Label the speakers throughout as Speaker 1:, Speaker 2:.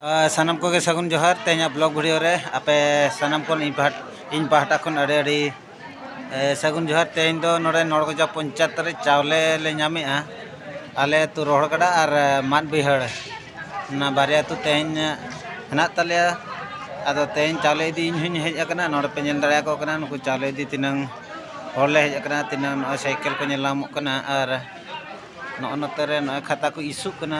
Speaker 1: ᱥᱟᱱᱟᱢ ᱠᱚᱜᱮ ᱥᱟᱹᱜᱩᱱ ᱡᱚᱦᱟᱨ ᱛᱮᱦᱮᱧᱟᱜ ᱵᱞᱚᱜ ᱵᱷᱤᱰᱤᱭᱳ ᱨᱮ ᱟᱯᱮ ᱥᱟᱱᱟᱢ ᱠᱷᱚᱱ ᱤᱧ ᱯᱟᱦᱴᱟ ᱤᱧ ᱯᱟᱦᱴᱟ ᱠᱷᱚᱱ ᱟᱹᱰᱤ ᱟᱹᱰᱤ ᱥᱟᱹᱜᱩᱱ ᱡᱚᱦᱟᱨ ᱛᱮᱦᱮᱧ ᱫᱚ ᱱᱚᱰᱮ ᱱᱚᱲᱜᱚᱡᱟ ᱯᱚᱧᱪᱟᱭᱮᱛ ᱨᱮ ᱪᱟᱣᱞᱮ ᱞᱮ ᱧᱟᱢᱮᱜᱼᱟ ᱟᱞᱮ ᱟᱹᱛᱩ ᱨᱚᱦᱚᱲ ᱜᱟᱰᱟ ᱟᱨ ᱢᱟᱫ ᱵᱟᱹᱭᱦᱟᱹᱲ ᱚᱱᱟ ᱵᱟᱨᱭᱟ ᱟᱹᱛᱩ ᱛᱮᱦᱮᱧ ᱦᱮᱱᱟᱜ ᱛᱟᱞᱮᱭᱟ ᱟᱫᱚ ᱛᱮᱦᱮᱧ ᱪᱟᱣᱞᱮ ᱤᱫᱤ ᱤᱧ ᱦᱚᱧ ᱦᱮᱡ ᱟᱠᱟᱱᱟ ᱱᱚᱰᱮ ᱯᱮ ᱧᱮᱞ ᱫᱟᱲᱮᱭᱟᱠᱚ ᱠᱟᱱᱟ ᱱᱩᱠᱩ ᱪᱟᱣᱞᱮ ᱤᱫᱤ ᱛᱤᱱᱟᱹᱝ ᱦᱚᱲ ᱞᱮ ᱦᱮᱡ ᱟᱠᱟᱱᱟ ᱛᱤᱱᱟᱹᱝ ᱱᱚᱜᱼᱚᱭ ᱥᱟᱭᱠᱮᱞ ᱠᱚ ᱧᱮᱞ ᱧᱟᱢᱚᱜ ᱠᱟᱱᱟ ᱟᱨ ᱱᱚᱜᱼᱚ ᱱᱚᱛᱮ ᱨᱮ ᱱᱚᱜᱼᱚᱭ ᱠᱷᱟᱛᱟ ᱠᱚ ᱤᱥᱩᱜ ᱠᱟᱱᱟ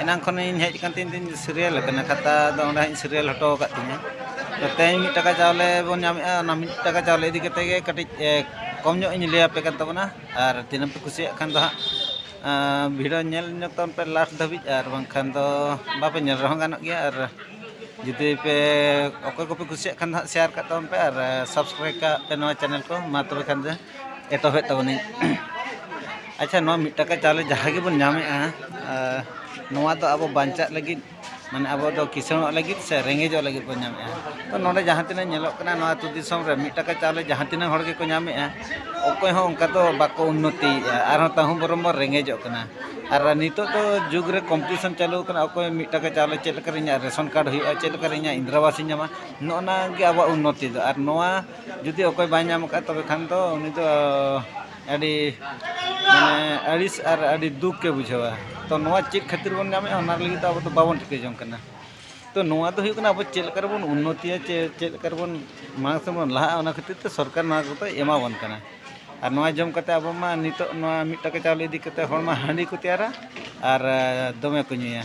Speaker 1: ᱮᱱᱟᱝ ᱠᱷᱚᱱᱤᱧ ᱦᱮᱡ ᱟᱠᱟᱱ ᱛᱤᱧ ᱛᱤᱧ ᱥᱤᱨᱤᱭᱟᱞ ᱟᱠᱟᱱᱟ ᱠᱷᱟᱛᱟ ᱫᱚ ᱚᱸᱰᱮ ᱦᱟᱸᱜ ᱤᱧ ᱥᱤᱨᱤᱭᱟᱞ ᱦᱚᱴᱚ ᱟᱠᱟᱫ ᱛᱤᱧᱟᱹ ᱛᱮᱦᱮᱧ ᱢᱤᱫ ᱴᱟᱠᱟ ᱪᱟᱣᱞᱮ ᱵᱚᱱ ᱧᱟᱢᱮᱜᱼᱟ ᱚᱱᱟ ᱢᱤᱫ ᱴᱟᱠᱟ ᱪᱟᱣᱞᱮ ᱤᱫᱤ ᱠᱟᱛᱮᱫ ᱜᱮ ᱠᱟᱹᱴᱤᱡ ᱠᱚᱢ ᱧᱚᱜ ᱤᱧ ᱞᱟᱹᱭ ᱟᱯᱮ ᱠᱟᱱ ᱛᱟᱵᱚᱱᱟ ᱟᱨ ᱛᱤᱱᱟᱹᱜ ᱯᱮ ᱠᱩᱥᱤᱭᱟᱜ ᱠᱷᱟᱱ ᱫᱚ ᱦᱟᱸᱜ ᱵᱷᱤᱰᱤᱭᱳ ᱧᱮᱞ ᱧᱚᱜᱽ ᱛᱟᱵᱚᱱ ᱯᱮ ᱞᱟᱥᱴ ᱫᱷᱟᱹᱵᱤᱡ ᱟᱨ ᱵᱟᱝᱠᱷᱟᱱ ᱫᱚ ᱵᱟᱯᱮ ᱧᱮᱞ ᱨᱮᱦᱚᱸ ᱜᱟᱱᱚᱜ ᱜᱮᱭᱟ ᱟᱨ ᱡᱩᱫᱤ ᱯᱮ ᱚᱠᱚᱭ ᱠᱚᱯᱮ ᱠᱩᱥᱤᱭᱟᱜ ᱠᱷᱟᱱ ᱫᱚ ᱦᱟᱸᱜ ᱥᱮᱭᱟᱨ ᱠᱟᱜ ᱛᱟᱵᱚᱱ ᱯᱮ ᱟᱨ ᱥᱟᱵᱥᱠᱨᱟᱭᱤᱵᱽ ᱠᱟᱜ ᱯᱮ ᱱᱚᱣᱟ ᱪᱮᱱᱮᱞ ᱠᱚ ᱢᱟ ᱛᱚᱵᱮ ᱠᱷᱟᱱ ᱫᱚ ᱮᱛᱚᱦᱚᱵᱮᱫ ᱛᱟᱵᱚᱱᱟᱹᱧ ᱟᱪᱪᱷᱟ ᱱᱚᱣᱟ ᱢᱤᱫ ᱴᱟᱠᱟ ᱪᱟᱣᱞᱮ ᱡᱟᱦᱟᱸ ᱜᱮᱵᱚᱱ ᱧᱟᱢᱮᱜᱼᱟ ᱱᱚᱣᱟ ᱫᱚ ᱟᱵᱚ ᱵᱟᱧᱪᱟᱜ ᱞᱟᱹᱜᱤᱫ ᱢᱟᱱᱮ ᱟᱵᱚ ᱫᱚ ᱠᱤᱥᱟᱹᱬᱚᱜ ᱞᱟᱹᱜᱤᱫ ᱥᱮ ᱨᱮᱸᱜᱮᱡᱚᱜ ᱞᱟᱹᱜᱤᱫ ᱵᱚᱱ ᱧᱟᱢᱮᱜᱼᱟ ᱛᱚ ᱱᱚᱰᱮ ᱡᱟᱦᱟᱸ ᱛᱤᱱᱟᱹᱜ ᱧᱮᱞᱚᱜ ᱠᱟᱱᱟ ᱱᱚᱣᱟ ᱟᱛᱳ ᱫᱤᱥᱚᱢ ᱨᱮ ᱢᱤᱫ ᱴᱟᱠᱟ ᱪᱟᱣᱞᱮ ᱡᱟᱦᱟᱸ ᱛᱤᱱᱟᱹᱜ ᱦᱚᱲ ᱜᱮᱠᱚ ᱧᱟᱢᱮᱜᱼᱟ ᱚᱠᱚᱭ ᱦᱚᱸ ᱚᱱᱠᱟ ᱫᱚ ᱵᱟᱠᱚ ᱩᱱᱱᱚᱛᱤᱭᱮᱜᱼᱟ ᱟᱨᱦᱚᱸ ᱛᱟᱹᱦᱩ ᱵᱚᱨᱚᱝ ᱵᱚᱱ ᱨᱮᱸᱜᱮᱡᱚᱜ ᱠᱟᱱᱟ ᱟᱨ ᱱᱤᱛᱚᱜ ᱫᱚ ᱡᱩᱜᱽ ᱨᱮ ᱠᱚᱢᱯᱤᱴᱤᱥᱚᱱ ᱪᱟᱹᱞᱩ ᱠᱟᱱᱟ ᱚᱠᱚᱭ ᱢᱤᱫ ᱴᱟᱠᱟ ᱪᱟᱣᱞᱮ ᱪᱮᱫ ᱞᱮᱠᱟᱨᱮ ᱤᱧᱟᱹᱜ ᱨᱮᱥᱚᱱ ᱠᱟᱨᱰ ᱦᱩᱭᱩᱜᱼᱟ ᱪᱮᱫ ᱞᱮᱠᱟᱨᱮ ᱤᱧᱟᱹᱜ ᱤᱱᱫᱨᱟ ᱟᱵᱟᱥ ᱤᱧ ᱧᱟᱢᱟ ᱱᱚᱜᱼᱚ ᱱᱚᱣᱟ ᱜᱮ ᱟᱵᱚᱣᱟᱜ ᱩᱱᱱᱚᱛᱤ ᱫᱚ ᱟᱨ ᱱᱚᱣᱟ ᱡᱩᱫᱤ ᱚᱠᱚᱭ ᱵᱟᱭ ᱧᱟᱢ ᱠᱟᱜᱼᱟ ᱛᱚᱵᱮ ᱠᱷᱟᱱ ᱫᱚ ᱩᱱᱤ ᱫᱚ ᱟᱹᱰᱤ ᱢᱟᱱᱮ ᱟᱹᱲᱤᱥ ᱟᱨ ᱟᱹᱰᱤ ᱫᱩᱠ ᱮ ᱵᱩᱡᱷᱟᱹᱣᱟ ᱛᱚ ᱱᱚᱣᱟ ᱪᱮᱫ ᱠᱷᱟᱹᱛᱤᱨ ᱵᱚᱱ ᱧᱟᱢᱮᱜᱼᱟ ᱚᱱᱟ ᱞᱟᱹᱜᱤᱫ ᱛᱮ ᱟᱵᱚ ᱫᱚ ᱵᱟᱵᱚᱱ ᱴᱷᱤᱠᱟᱹ ᱡᱚᱝ ᱠᱟᱱᱟ ᱛᱚ ᱱᱚᱣᱟ ᱫᱚ ᱦᱩᱭᱩᱜ ᱠᱟᱱᱟ ᱟᱵᱚ ᱪᱮᱫ ᱞᱮᱠᱟ ᱨᱮᱵᱚᱱ ᱩᱱᱱᱚᱛᱤᱭᱟ ᱪᱮ ᱪᱮᱫ ᱞᱮᱠᱟ ᱨᱮᱵᱚᱱ ᱢᱟᱲᱟᱝ ᱥᱮᱫ ᱵᱚᱱ ᱞᱟᱦᱟᱜᱼᱟ ᱚᱱᱟ ᱠᱷᱟᱹᱛᱤᱨ ᱛᱮ ᱥᱚᱨᱠᱟᱨ ᱱᱚᱣᱟ ᱠᱚᱫᱚᱭ ᱮᱢᱟ ᱵᱚᱱ ᱠᱟᱱᱟ ᱟᱨ ᱱᱚᱣᱟ ᱡᱚᱢ ᱠᱟᱛᱮᱫ ᱟᱵᱚ ᱢᱟ ᱱᱤᱛᱚᱜ ᱱᱚᱣᱟ ᱢᱤᱫ ᱴᱟᱠᱟ ᱪᱟᱣᱞᱮ ᱤᱫᱤ ᱠᱟᱛᱮᱫ ᱦᱚᱲᱢᱟ ᱦᱟᱺᱰᱤ ᱠᱚ ᱛᱮᱭᱟᱨᱟ ᱟᱨ ᱫᱚᱢᱮ ᱠᱚ ᱧᱩᱭᱟ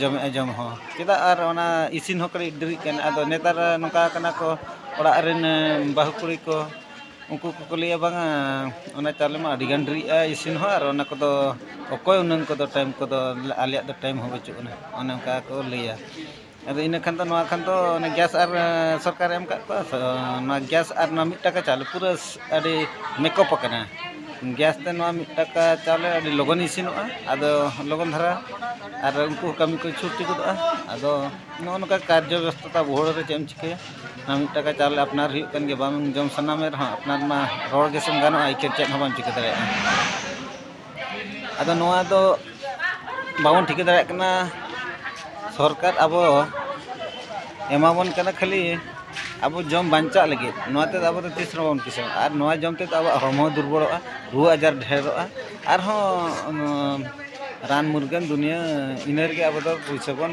Speaker 1: ᱡᱚᱢᱮᱜᱼᱟ ᱡᱚᱢ ᱦᱚᱸ ᱪᱮᱫᱟᱜ ᱟᱨ ᱚᱱᱟ ᱤᱥᱤᱱ ᱦᱚᱸ ᱠᱟᱹᱴᱤᱡ ᱰᱮᱨᱤᱜ ᱠᱟᱱᱟ ᱟᱫᱚ ᱱᱮᱛᱟᱨ ᱱᱚᱝᱠᱟ ᱠᱟᱱᱟ ᱠᱚ ᱚᱲᱟᱜ ᱨᱮᱱ ᱵᱟᱹᱦᱩ ᱠᱩᱲᱤ ᱠᱚ ᱩᱱᱠᱩ ᱠᱚᱠᱚ ᱞᱟᱹᱭᱟ ᱵᱟᱝᱟ ᱚᱱᱟ ᱪᱟᱣᱞᱮ ᱢᱟ ᱟᱹᱰᱤ ᱜᱟᱱ ᱰᱮᱨᱤᱜᱼᱟ ᱤᱥᱤᱱ ᱦᱚᱸ ᱟᱨ ᱚᱱᱟ ᱠᱚᱫᱚ ᱚᱠᱚᱭ ᱩᱱᱟᱹᱜ ᱠᱚᱫᱚ ᱴᱟᱭᱤᱢ ᱠᱚᱫᱚ ᱟᱞᱮᱭᱟᱜ ᱫᱚ ᱴᱟᱭᱤᱢ ᱦᱚᱸ ᱵᱟᱹᱪᱩᱜ ᱟᱱᱟ ᱚᱱᱮ ᱚᱱᱠᱟ ᱠᱚ ᱞᱟᱹᱭᱟ ᱟᱫᱚ ᱤᱱᱟᱹ ᱠᱷᱟᱱ ᱫᱚ ᱱᱚᱣᱟ ᱠᱷᱟᱱ ᱫᱚ ᱚᱱᱮ ᱜᱮᱥ ᱟᱨ ᱥᱚᱨᱠᱟᱨᱮ ᱮᱢ ᱟᱠᱟᱫ ᱠᱚᱣᱟ ᱛᱚ ᱱᱚᱣᱟ ᱜᱮᱥ ᱟᱨ ᱱᱚᱣᱟ ᱢᱤᱫ ᱴᱟᱠᱟ ᱪᱟᱣᱞᱮ ᱯᱩᱨᱟᱹ ᱟᱹᱰᱤ ᱢᱮᱠᱚᱯ ᱟᱠᱟᱱᱟ ᱜᱮᱥ ᱛᱮ ᱱᱚᱣᱟ ᱢᱤᱫ ᱴᱟᱠᱟ ᱪᱟᱣᱞᱮ ᱟᱹᱰᱤ ᱞᱚᱜᱚᱱ ᱤᱥᱤᱱᱚᱜᱼᱟ ᱟᱫᱚ ᱞᱚᱜᱚᱱ ᱫᱷᱟᱨᱟ ᱟᱨ ᱩᱱᱠᱩ ᱦᱚᱸ ᱠᱟᱹᱢᱤ ᱠᱚ ᱪᱷᱩᱴᱤ ᱜᱚᱫᱚᱜᱼᱟ ᱟᱫᱚ ᱱᱚᱜᱼᱚ ᱱᱚᱝᱠᱟ ᱠᱟᱨᱡᱚ ᱵᱮᱵᱚᱥᱛᱷᱟ ᱛᱟᱵᱚ ᱦᱚᱲ ᱫᱚ ᱪᱮᱫ ᱮᱢ ᱪᱤᱠᱟᱹᱭᱟ ᱱᱚᱣᱟ ᱢᱤᱫ ᱴᱟᱠᱟ ᱪᱟᱣᱞᱮ ᱟᱯᱱᱟᱨ ᱦᱩᱭᱩᱜ ᱠᱟᱱ ᱜᱮᱭᱟ ᱵᱟᱝ ᱡᱚᱢ ᱥᱟᱱᱟ ᱢᱮ ᱨᱮᱦᱚᱸ ᱟᱯᱱᱟᱨ ᱢᱟ ᱨᱚᱲ ᱜᱮᱥᱮᱢ ᱜᱟᱱᱚᱜᱼᱟ ᱮᱭ ᱪᱮᱫ ᱪᱮᱫ ᱦᱚᱸ ᱵᱟᱢ ᱪᱤᱠᱟᱹ ᱫᱟᱲᱮᱭᱟᱜᱼᱟ ᱟᱫᱚ ᱱᱚᱣᱟ ᱫᱚ ᱵᱟᱵᱚᱱ ᱴᱷᱤᱠᱟᱹ ᱫᱟᱲᱮᱭᱟᱜ ᱠᱟᱱᱟ ᱥᱚᱨᱠᱟᱨ ᱟᱵᱚ ᱮᱢᱟᱵᱚᱱ ᱠᱟᱱᱟ ᱠᱷᱟᱹᱞᱤ ᱟᱵᱚ ᱡᱚᱢ ᱵᱟᱧᱪᱟᱜ ᱞᱟᱹᱜᱤᱫ ᱱᱚᱣᱟ ᱛᱮᱫᱚ ᱟᱵᱚ ᱫᱚ ᱛᱤᱥ ᱨᱮᱦᱚᱸ ᱵᱟᱵᱚᱱ ᱠᱤᱥᱟᱹᱬᱚᱜᱼᱟ ᱟᱨ ᱱᱚᱣᱟ ᱡᱚᱢ ᱛᱮᱫᱚ ᱟᱵᱚᱣᱟᱜ ᱦᱚᱲᱢᱚ ᱦᱚᱸ ᱫᱩᱨᱵᱚᱞᱚᱜᱼᱟ ᱨᱩᱣᱟᱹ ᱟᱡᱟᱨ ᱰᱷᱮᱨᱚᱜᱼᱟ ᱟᱨᱦᱚᱸ ᱨᱟᱱ ᱢᱩᱨᱜᱟᱹᱱ ᱫᱩᱱᱤᱭᱟᱹ ᱤᱱᱟᱹ ᱨᱮᱜᱮ ᱟᱵᱚ ᱫᱚ ᱯᱩᱭᱥᱟᱹ ᱵᱚᱱ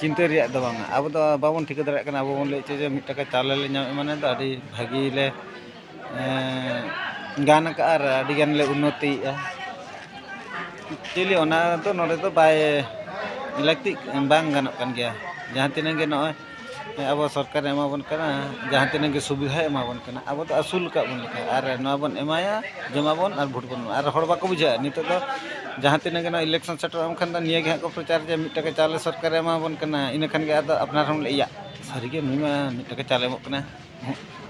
Speaker 1: ᱪᱤᱱᱛᱟᱹ ᱨᱮᱭᱟᱜ ᱫᱚ ᱵᱟᱝᱟ ᱟᱵᱚ ᱫᱚ ᱵᱟᱵᱚᱱ ᱴᱷᱤᱠᱟᱹ ᱫᱟᱲᱮᱭᱟᱜ ᱠᱟᱱᱟ ᱟᱵᱚ ᱵᱚᱱ ᱞᱟᱹᱭᱮᱫ ᱪᱮᱫ ᱡᱮ ᱢᱤᱫ ᱴᱟᱠᱟ ᱪᱟᱣᱞᱮ ᱞᱮ ᱧᱟᱢᱮᱫ ᱢᱟᱱᱮ ᱫᱚ ᱟᱹᱰᱤ ᱵᱷᱟᱹᱜᱤ ᱞᱮ ᱜᱟᱱ ᱠᱟᱜᱼᱟ ᱟᱨ ᱟᱹᱰᱤ ᱜᱟᱱ ᱞᱮ ᱩᱱᱱᱚᱛᱤᱭᱮᱜᱼᱟ ᱮᱠᱪᱩᱞᱤ ᱚᱱᱟ ᱫᱚ ᱱᱚᱰᱮ ᱫᱚ ᱵᱟᱭ ᱞᱟᱹᱠᱛᱤᱜ ᱵᱟᱝ ᱜᱟᱱᱚᱜ ᱠᱟᱱ ᱜᱮᱭᱟ ᱡᱟᱦᱟᱸ ᱛᱤᱱᱟᱹᱜ ᱜᱮ ᱱᱚᱜᱼᱚᱭ ᱟᱵᱚ ᱥᱚᱨᱠᱟᱨᱮ ᱮᱢᱟ ᱵᱚᱱ ᱠᱟᱱᱟ ᱡᱟᱦᱟᱸ ᱛᱤᱱᱟᱹᱜ ᱜᱮ ᱥᱩᱵᱤᱫᱷᱟᱭ ᱮᱢᱟ ᱵᱚᱱ ᱠᱟᱱᱟ ᱟᱵᱚ ᱫᱚ ᱟᱹᱥᱩᱞ ᱟᱠᱟᱫ ᱵᱚᱱ ᱞᱮᱠᱟ ᱟᱨ ᱱᱚᱣᱟ ᱵᱚᱱ ᱮᱢᱟᱭᱟ ᱡᱚᱢ ᱟᱵᱚᱱ ᱟᱨ ᱵᱷᱳᱴ ᱵᱚᱱ ᱮᱢᱟᱭᱟ ᱟᱨ ᱦᱚᱲ ᱵᱟᱠᱚ ᱵᱩᱡᱷᱟᱹᱣᱮᱜᱼᱟ ᱱᱤᱛᱚᱜ ᱫᱚ ᱡᱟᱦᱟᱸ ᱛᱤᱱᱟᱹᱜ ᱜᱮ ᱱᱚᱣᱟ ᱤᱞᱮᱠᱥᱚᱱ ᱥᱮᱴᱮᱨᱚᱜᱼᱟ ᱩᱱ ᱠᱷᱟᱱ ᱫᱚ ᱱᱤᱭᱟᱹ ᱜᱮ ᱦᱟᱸᱜ ᱠᱚ ᱯᱨᱚᱪᱟᱨ ᱡᱮ ᱢᱤᱫ ᱴᱟᱠᱟ ᱪᱟᱣᱞᱮ ᱥᱚᱨᱠᱟᱨᱮ ᱮᱢᱟ ᱵᱚᱱ ᱠᱟᱱᱟ ᱤᱱᱟᱹ ᱠᱷᱟᱱ ᱜᱮ ᱟᱫᱚ ᱟᱯᱱᱟᱨ ᱦᱚᱸ ᱵᱚᱱ ᱞᱟᱹᱭᱟ ᱤᱭᱟᱜ ᱥᱟᱹᱨᱤᱜᱮ ᱱᱩᱭ ᱢᱟ ᱢᱤᱫ ᱴᱟᱠᱟ ᱪᱟᱣᱞᱮ ᱮᱢᱚᱜ ᱠᱟᱱᱟᱭ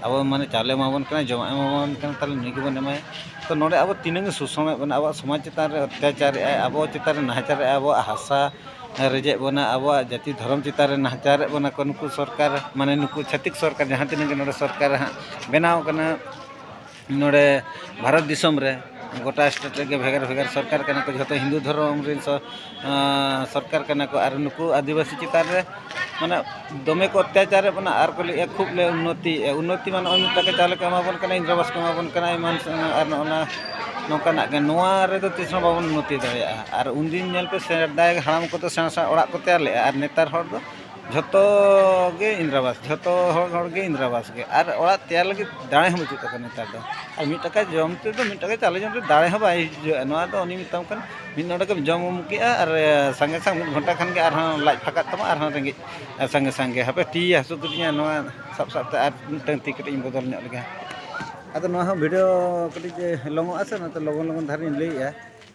Speaker 1: ᱟᱵᱚ ᱢᱟᱱᱮ ᱪᱟᱣᱞᱮ ᱮᱢᱟᱵᱚᱱ ᱠᱟᱱᱟᱭ ᱡᱚᱢᱟᱜ ᱮᱢᱟᱵᱚᱱ ᱠᱟᱱᱟᱭ ᱛᱟᱦᱚᱞᱮ ᱱᱩᱭ ᱜᱮᱵᱚᱱ ᱮᱢᱟᱭᱟ ᱛᱚ ᱱᱚᱰᱮ ᱟᱵᱚ ᱛᱤᱱᱟᱹᱜ ᱮ ᱥᱳᱥᱳᱱᱮᱫ ᱵᱚᱱᱟ ᱟᱵᱚᱣᱟᱜ ᱥᱚᱢᱟᱡᱽ ᱪᱮᱛᱟᱱ ᱨᱮ ᱚᱛᱛᱟᱪᱟᱨᱮᱫ ᱟᱭ ᱟᱵᱚ ᱪᱮᱛᱟᱱ ᱨᱮ ᱱᱟᱦᱟᱪᱟᱨᱮᱫ ᱟᱭ ᱟᱵᱚᱣᱟᱜ ᱦᱟᱥᱟ ᱨᱮᱡᱮᱫ ᱵᱚᱱᱟ ᱟᱵᱚᱣᱟᱜ ᱡᱟᱹᱛᱤ ᱫᱷᱚᱨᱚᱢ ᱪᱮᱛᱟᱱ ᱨᱮ ᱱᱟᱦᱟᱪᱟᱨᱮᱫ ᱵᱚᱱᱟ ᱠᱚ ᱱᱩᱠᱩ ᱥᱚᱨᱠᱟᱨ ᱢᱟᱱᱮ ᱱᱩᱠᱩ ᱪᱷᱟᱹᱛᱤᱠ ᱥᱚᱨᱠᱟᱨ ᱡᱟᱦᱟᱸ ᱛᱤᱱᱟᱹᱜ ᱜᱮ ᱱᱚᱰᱮ ᱥᱚᱨᱠᱟᱨ ᱦᱟᱸᱜ ᱵᱮᱱᱟᱣ ᱠᱟᱱᱟ ᱱᱚᱰᱮ ᱵᱷᱟᱨᱚᱛ ᱫᱤᱥᱚᱢ ᱨᱮ ᱜᱚᱴᱟ ᱥᱴᱮᱴ ᱨᱮᱜᱮ ᱵᱷᱮᱜᱟᱨ ᱵᱷᱮᱜᱟᱨ ᱥᱚᱨᱠᱟᱨ ᱠᱟᱱᱟ ᱠᱚ ᱡᱚᱛᱚ ᱦᱤᱱᱫᱩ ᱫᱷᱚᱨᱚᱢ ᱨᱮᱱ ᱥᱚᱨᱠᱟᱨ ᱠᱟᱱᱟ ᱠᱚ ᱟᱨ ᱱᱩᱠᱩ ᱟᱹᱫᱤᱵᱟᱹᱥᱤ ᱪᱮᱛᱟᱱ ᱨᱮ ᱢᱟᱱᱮ ᱫᱚᱢᱮ ᱠᱚ ᱚᱛᱛᱟᱪᱟᱨᱮᱫ ᱵᱚᱱᱟ ᱟᱨ ᱠᱚ ᱞᱟᱹᱭᱮᱫᱼᱟ ᱠᱷᱩᱵ ᱞᱮ ᱩᱱᱱᱚᱛᱤᱭᱮᱫᱼᱟ ᱩᱱᱱᱚᱛᱤ ᱢᱟᱱᱮ ᱱᱚᱜᱼᱚᱭ ᱢᱤᱫ ᱴᱟᱠᱟ ᱪᱟᱣᱞᱮ ᱠᱚ ᱮᱢᱟ ᱵᱚᱱ ᱠᱟᱱᱟ ᱤᱱᱫᱨᱟ ᱟᱵᱟᱥ ᱠᱚ ᱮᱢᱟ ᱵᱚᱱ ᱠᱟᱱᱟ ᱮᱢᱟᱱ ᱟᱨ ᱱᱚᱜᱼᱚ ᱱᱟ ᱱᱚᱝᱠᱟᱱᱟᱜ ᱜᱮ ᱱᱚᱣᱟ ᱨᱮᱫᱚ ᱛᱤᱥ ᱦᱚᱸ ᱵᱟᱵᱚᱱ ᱩᱱᱱᱚᱛᱤ ᱫᱟᱲᱮᱭᱟᱜᱼᱟ ᱟᱨ ᱩᱱᱫᱤᱱ ᱧᱮᱞ ᱯᱮ ᱥᱮᱫᱟᱭ ᱦᱟᱲᱟᱢ ᱠᱚᱫᱚ ᱥᱮᱬᱟ ᱥᱮᱬᱟ ᱚᱲᱟᱜ ᱠᱚ ᱛᱮᱭᱟᱨ ᱞᱮᱫᱼᱟ ᱟᱨ ᱱᱮᱛᱟᱨ ᱦᱚᱲ ᱫᱚ ᱡᱷᱚᱛᱚ ᱜᱮ ᱤᱱᱫᱨᱟ ᱟᱵᱟᱥ ᱡᱷᱚᱛᱚ ᱦᱚᱲ ᱦᱚᱲ ᱜᱮ ᱤᱱᱫᱨᱟ ᱟᱵᱟᱥ ᱜᱮ ᱟᱨ ᱚᱲᱟᱜ ᱛᱮᱭᱟᱨ ᱞᱟᱹᱜᱤᱫ ᱫᱟᱲᱮ ᱦᱚᱸ ᱵᱟᱹᱪᱩᱜ ᱛᱟᱠᱚᱣᱟ ᱱᱮᱛᱟᱨ ᱫᱚ ᱟᱨ ᱢᱤᱫ ᱴᱟᱠᱟ ᱡᱚᱢ ᱛᱮᱫᱚ ᱢᱤᱫ ᱴᱟᱠᱟ ᱪᱟᱣᱞᱮ ᱡᱚᱢ ᱛᱮᱫᱚ ᱫᱟᱲᱮ ᱦᱚᱸ ᱵᱟᱭ ᱦᱤᱡᱩᱜᱼᱟ ᱱᱚᱣᱟ ᱫᱚ ᱩᱱᱤ ᱢᱮᱛᱟᱢ ᱠᱟᱱᱟ ᱢᱤᱫ ᱱᱚᱰᱮ ᱜᱮᱢ ᱡᱚᱢ ᱩᱢ ᱠᱮᱜᱼᱟ ᱟᱨ ᱥᱟᱸᱜᱮ ᱥᱟᱝ ᱢᱤᱫ ᱜᱷᱚᱱᱴᱟ ᱠᱷᱟᱱ ᱜᱮ ᱟᱨᱦᱚᱸ ᱞᱟᱡ ᱯᱷᱟᱸᱠᱟᱜ ᱛᱟᱢᱟ ᱟᱨᱦᱚᱸ ᱨᱮᱸᱜᱮᱡ ᱥᱟᱸᱜᱮ ᱥᱟᱝᱜᱮ ᱦᱟᱯᱮ ᱛᱤ ᱦᱟᱹᱥᱩ ᱠᱤᱫᱤᱧᱟ ᱱᱚᱣᱟ ᱥᱟᱵ ᱥᱟᱵ ᱛᱮ ᱟᱨ ᱢᱤᱫᱴᱟᱹᱝ ᱛᱤ ᱠᱟᱹᱴᱤᱡ ᱤᱧ ᱵᱚᱫᱚᱞ ᱧᱚᱜ ᱞᱮᱜᱮ ᱟᱫᱚ ᱱᱚᱣᱟ ᱦᱚᱸ ᱵᱷᱤᱰᱤᱭᱳ ᱠᱟᱹᱴᱤᱡ ᱞᱚᱝ ᱚᱜᱼᱟ ᱥᱮ ᱚᱱᱟᱛᱮ ᱞᱚᱜᱚᱱ ᱞᱚᱜᱚᱱ ᱫᱷᱟᱨᱟᱧ ᱞᱟᱹᱭᱮᱜᱼᱟ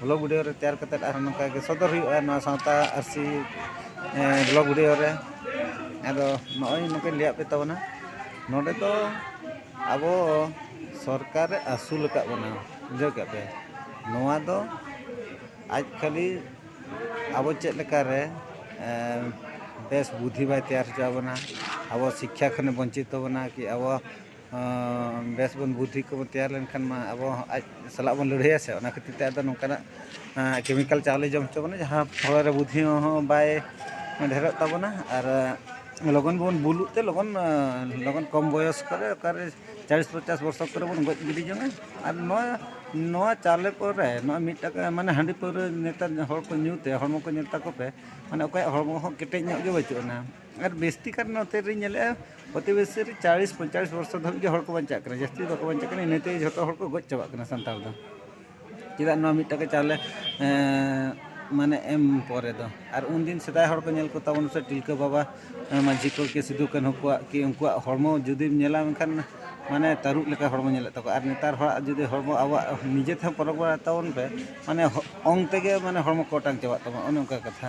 Speaker 1: ᱵᱞᱚᱜᱽ ᱵᱷᱤᱰᱤᱭᱳ ᱨᱮ ᱛᱮᱭᱟᱨ ᱠᱟᱛᱮᱫ ᱟᱨᱦᱚᱸ ᱱᱚᱝᱠᱟ ᱜᱮ ᱥᱚᱫᱚᱨ ᱦᱩᱭᱩᱜᱼᱟ ᱱᱚᱣᱟ ᱥᱟᱶᱛᱟ ᱟᱹᱨᱥᱤ ᱵᱞᱚᱜᱽ ᱵᱷᱤᱰᱤᱭᱳ ᱨᱮ ᱟᱫᱚ ᱱᱚᱜᱼᱚᱭ ᱱᱚᱝᱠᱟᱧ ᱞᱟᱹᱭᱟᱫ ᱯᱮ ᱛᱟᱵᱚᱱᱟ ᱱᱚᱰᱮ ᱫᱚ ᱟᱵᱚ ᱥᱚᱨᱠᱟᱨᱮ ᱟᱹᱥᱩᱞ ᱟᱠᱟᱫ ᱵᱚᱱᱟ ᱵᱩᱡᱷᱟᱹᱣ ᱠᱮᱫ ᱯᱮ ᱱᱚᱣᱟ ᱫᱚ ᱟᱡ ᱠᱷᱟᱹᱞᱤ ᱟᱵᱚ ᱪᱮᱫ ᱞᱮᱠᱟᱨᱮ ᱵᱮᱥ ᱵᱩᱫᱷᱤ ᱵᱟᱭ ᱛᱮᱭᱟᱨ ᱦᱚᱪᱚ ᱟᱵᱚᱱᱟ ᱟᱵᱚ ᱥᱤᱠᱠᱷᱟ ᱠᱷᱚᱱᱮ ᱵᱚᱧᱪᱤᱛᱚ ᱵᱚᱱᱟ ᱠᱤ ᱟᱵᱚ ᱵᱮᱥ ᱵᱚᱱ ᱵᱩᱫᱽᱫᱷᱤ ᱠᱚᱵᱚᱱ ᱛᱮᱭᱟᱨ ᱞᱮᱱᱠᱷᱟᱱ ᱢᱟ ᱟᱵᱚ ᱦᱚᱸ ᱟᱡ ᱥᱟᱞᱟᱜ ᱵᱚᱱ ᱞᱟᱹᱲᱦᱟᱹᱭᱟ ᱥᱮ ᱚᱱᱟ ᱠᱷᱟᱹᱛᱤᱨ ᱛᱮ ᱟᱫᱚ ᱱᱚᱝᱠᱟᱱᱟᱜ ᱠᱮᱢᱤᱠᱮᱞ ᱪᱟᱣᱞᱮ ᱡᱚᱢ ᱦᱚᱪᱚ ᱵᱚᱱᱟ ᱡᱟᱦᱟᱸ ᱦᱚᱲᱢᱚ ᱨᱮ ᱵᱩᱫᱽᱫᱷᱤ ᱦᱚᱸ ᱵᱟᱭ ᱰᱷᱮᱨᱚᱜ ᱛᱟᱵᱚᱱᱟ ᱟᱨ ᱞᱚᱜᱚᱱ ᱵᱚᱱ ᱵᱩᱞᱩᱜ ᱛᱮ ᱞᱚᱜᱚᱱ ᱞᱚᱜᱚᱱ ᱠᱚᱢ ᱵᱚᱭᱚᱥ ᱠᱚᱨᱮ ᱚᱠᱟᱨᱮ ᱪᱟᱞᱤᱥ ᱯᱚᱪᱟᱥ ᱵᱚᱪᱷᱚᱨ ᱠᱚᱨᱮ ᱵᱚᱱ ᱜᱚᱡ ᱜᱤᱰᱤ ᱡᱚᱝᱟ ᱟᱨ ᱱᱚᱣᱟ ᱱᱚᱣᱟ ᱪᱟᱣᱞᱮ ᱠᱚᱨᱮ ᱱᱚᱣᱟ ᱢᱤᱫ ᱴᱟᱠᱟ ᱢᱟᱱᱮ ᱦᱟᱺᱰᱤ ᱯᱟᱹᱣᱨᱟᱹ ᱱᱮᱛᱟᱨ ᱦᱚᱲ ᱠᱚ ᱧᱩ ᱛᱮ ᱦᱚᱲᱢᱚ ᱠᱚ ᱧᱮᱞ ᱛᱟᱠᱚ ᱯᱮ ᱢᱟᱱᱮ ᱚᱠᱚᱭᱟᱜ ᱦᱚᱲᱢᱚ ᱦᱚᱸ ᱠᱮᱴᱮᱡ ᱧᱚᱜ ᱜᱮ ᱵᱟᱹᱪᱩᱜ ᱟᱱᱟ ᱟᱨ ᱵᱤᱥᱛᱤ ᱠᱟᱨ ᱱᱚᱛᱮ ᱨᱮᱧ ᱧᱮᱞᱮᱜᱼᱟ ᱯᱨᱚᱛᱤ ᱵᱮᱥᱤ ᱨᱮ ᱪᱟᱞᱤᱥ ᱯᱚᱧᱪᱟᱥ ᱵᱚᱨᱥᱚ ᱫᱷᱟᱹᱵᱤᱡ ᱜᱮ ᱦᱚᱲ ᱠᱚ ᱵᱟᱧᱪᱟᱜ ᱠᱟᱱᱟ ᱡᱟᱹᱥᱛᱤ ᱫᱚ ᱵᱟᱠᱚ ᱵᱟᱧᱪᱟᱜ ᱠᱟᱱᱟ ᱤᱱᱟᱹ ᱛᱮᱜᱮ ᱡᱚᱛᱚ ᱦᱚᱲ ᱠᱚ ᱜᱚᱡ ᱪᱟᱵᱟᱜ ᱠᱟᱱᱟ ᱥᱟᱱᱛᱟᱲ ᱫᱚ ᱪᱮᱫᱟᱜ ᱱᱚᱣᱟ ᱢᱤᱫ ᱴᱟᱠᱟ ᱪᱟᱣᱞᱮ ᱢᱟᱱᱮ ᱮᱢ ᱯᱚᱨᱮ ᱫᱚ ᱟᱨ ᱩᱱ ᱫᱤᱱ ᱥᱮᱫᱟᱭ ᱦᱚᱲ ᱠᱚ ᱧᱮᱞ ᱠᱚ ᱛᱟᱵᱚᱱ ᱥᱮ ᱛᱤᱞᱠᱟᱹ ᱵᱟᱵᱟ ᱢᱟᱹᱡᱷᱤ ᱠᱚ ᱠᱤ ᱥᱤᱫᱩ ᱠᱟᱹᱱᱦᱩ ᱠᱚᱣᱟᱜ ᱠᱤ ᱩᱱᱠᱩᱣᱟᱜ ᱦᱚᱲᱢᱚ ᱡᱩᱫᱤᱢ ᱧᱮᱞᱟ ᱢᱮᱱᱠᱷᱟᱱ ᱢᱟᱱᱮ ᱛᱟᱹᱨᱩᱵ ᱞᱮᱠᱟ ᱦᱚᱲᱢᱚ ᱧᱮᱞᱚᱜ ᱛᱟᱠᱚᱣᱟ ᱟᱨ ᱱᱮᱛᱟᱨ ᱦᱚᱲᱟᱜ ᱡᱩᱫᱤ ᱦᱚᱲᱢᱚ ᱟᱵᱚᱣᱟᱜ ᱱᱤᱡᱮ ᱛᱮᱦᱚᱸ ᱯᱚᱨᱚᱠ ᱵᱟᱲᱟᱭ ᱛᱟᱵᱚᱱ ᱯᱮ ᱢᱟᱱᱮ ᱚᱝ ᱛᱮᱜᱮ ᱢᱟᱱᱮ ᱦᱚᱲᱢᱚ ᱠᱚ ᱚᱴᱟᱝ ᱪᱟᱵᱟᱜ ᱛᱟᱢᱟ ᱚᱱᱮ ᱚᱱᱠᱟ ᱠᱟᱛᱷᱟ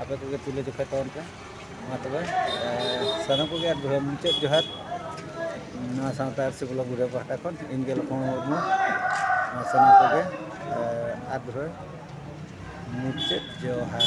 Speaker 1: ᱟᱯᱮ ᱠᱚᱜᱮ ᱛᱩᱞᱟᱹ ᱡᱚᱠᱷᱟᱭ ᱛᱟᱵᱚᱱ ᱯᱮ ᱢᱟ ᱛᱚᱵᱮ ᱥᱟᱱᱟᱢ ᱠᱚᱜᱮ ᱟᱨ ᱢᱩᱪᱟᱹᱫ ᱡᱚᱦᱟᱨ ᱱᱚᱣᱟ ᱥᱟᱶᱛᱟ ᱟᱹᱨᱥᱤ ᱵᱞᱚᱠ ᱵᱩᱰᱷᱟᱹ ᱯᱟᱦᱴᱟ ᱠᱷᱚᱱ ᱤᱧ ᱜᱮ ᱞᱚᱠᱷᱚᱱ ᱢᱩᱨᱢᱩ ᱱᱚᱣᱟ ᱥᱟᱱᱟᱢ ᱠᱚᱜᱮ ᱟᱨ ᱫᱷᱩᱨᱟᱹ ᱢᱩᱪᱟᱹᱫ ᱡᱚᱦᱟᱨ